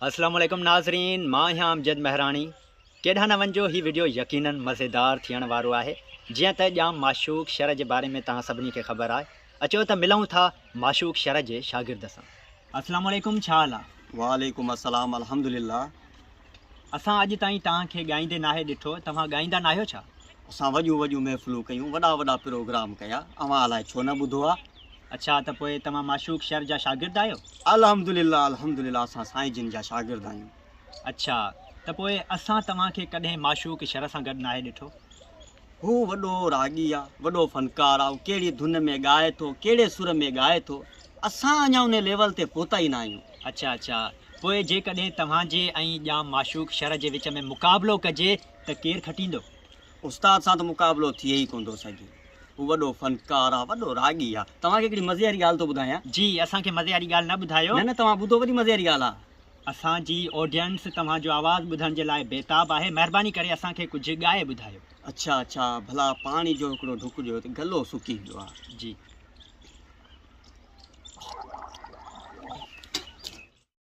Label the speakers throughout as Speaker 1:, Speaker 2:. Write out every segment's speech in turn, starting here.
Speaker 1: اسلام عليڪم ناظرين مان آهيان امجد مهراڻي ڪيڏانهن نه وڃجو هي وڊيو يقيناً مزيدار ٿيڻ وارو آهي جيئن ته ڄام معشوق شر جي باري ۾ توهان سڀني کي خبر آهي اچو ته ملون ٿا معشوق شر جي شاگرد سان اسلام عليڪم ڇا حال آهي وعليڪم السلام
Speaker 2: الحمد لله اسان اڄ تائين
Speaker 1: توهان کي ڳائيندي ناهي ڏٺو توهان ڳائيندا ناهيو ڇا؟ اسان وڏيون وڏيون
Speaker 2: محفلون ڪيون وڏا وڏا پروگرام ڪيا اوهان الائي ڇو نه ٻڌو آهي. اڇا ته پوء
Speaker 1: توهان معشوق شر جا شاگرد آهيو؟ الحمدلله
Speaker 2: الحمدلله اسان سائين جن جا شاگرد آهيون. اڇا ته
Speaker 1: پوء اسان توهان کي ڪڏهن معشوق شر سان گڏ ناهي ڏٺو؟ هو
Speaker 2: وڏو راڳي آ، وڏو فنڪار آ، هو ڪهڙي ڌن ۾ ڳائي ٿو، ڪهڙي سر ۾ ڳائي ٿو، اسان اڃا انهي ليول تي پهتا ئي ناهيون. اڇا اڇا
Speaker 1: پوء جيڪڏهن توهان جي ۽ ڄام معشوق شر جي وچ ۾ مقابلو ڪجي ته ڪير کٽيندو؟ استاد سان ته
Speaker 2: مقابلو ٿئي ئي ڪونه ٿو سگهي. هو وڏو فنڪار آ وڏو راڳي آ. توهان کي هڪڙي مزي واري ڳالهه ٿو ٻڌايان. جي اسان کي مزي واري
Speaker 1: ڳالهه نه ٻڌايو. نه نه توهان ٻڌو وڏي مزي
Speaker 2: واري ڳالهه آ. اسان جي
Speaker 1: آڊينس توهان جو آواز ٻڌڻ جي لاء بيتاب آهي مهرباني ڪري اسان کي ڪجهه ڳائي ٻڌايو. اڇا اڇا
Speaker 2: ڀلا پاڻي جو هڪڙو ڍڪ ڏيو ته گلو سڪي ويو آ. جي.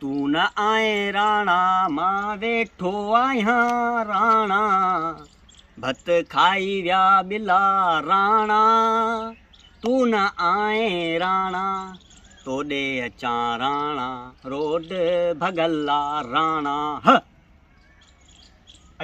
Speaker 2: تون نه آئين راڻا مان ويٺو آهيان راڻا ڀت کائي ويا ٻلا راڻا تون نه آئين راڻا توڏي اچان راڻا روڊ ڀڳلا راڻا ه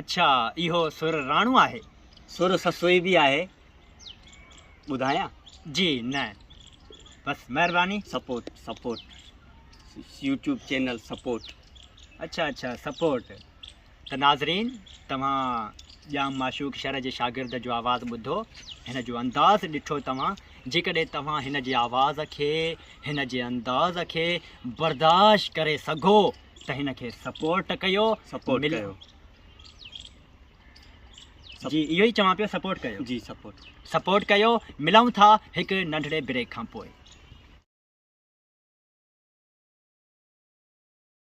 Speaker 1: اڇا اهو سر راڻو آهي. سر سسوئي
Speaker 2: به آهي. ٻڌايان جي
Speaker 1: نه بس مهرباني support support
Speaker 2: YouTube channel support اچھا اچھا
Speaker 1: سپورٽ ته ناظرين توهان ڄام معشوق شر جي شاگرد جو آواز ٻڌو هن جو انداز ڏٺو توهان جيڪڏهن توهان هن جي آواز کي هن جي انداز کي برداشت ڪري سگھو ته هن کي سپورٽ ڪيو سپورٽ ڪيو جي اهو ئي چوان پيو سپورٽ ڪيو. جي سپورٽ. سپورٽ ڪيو ملئون ٿا هڪ
Speaker 2: ننڍڙي
Speaker 1: بريڪ کان پوء.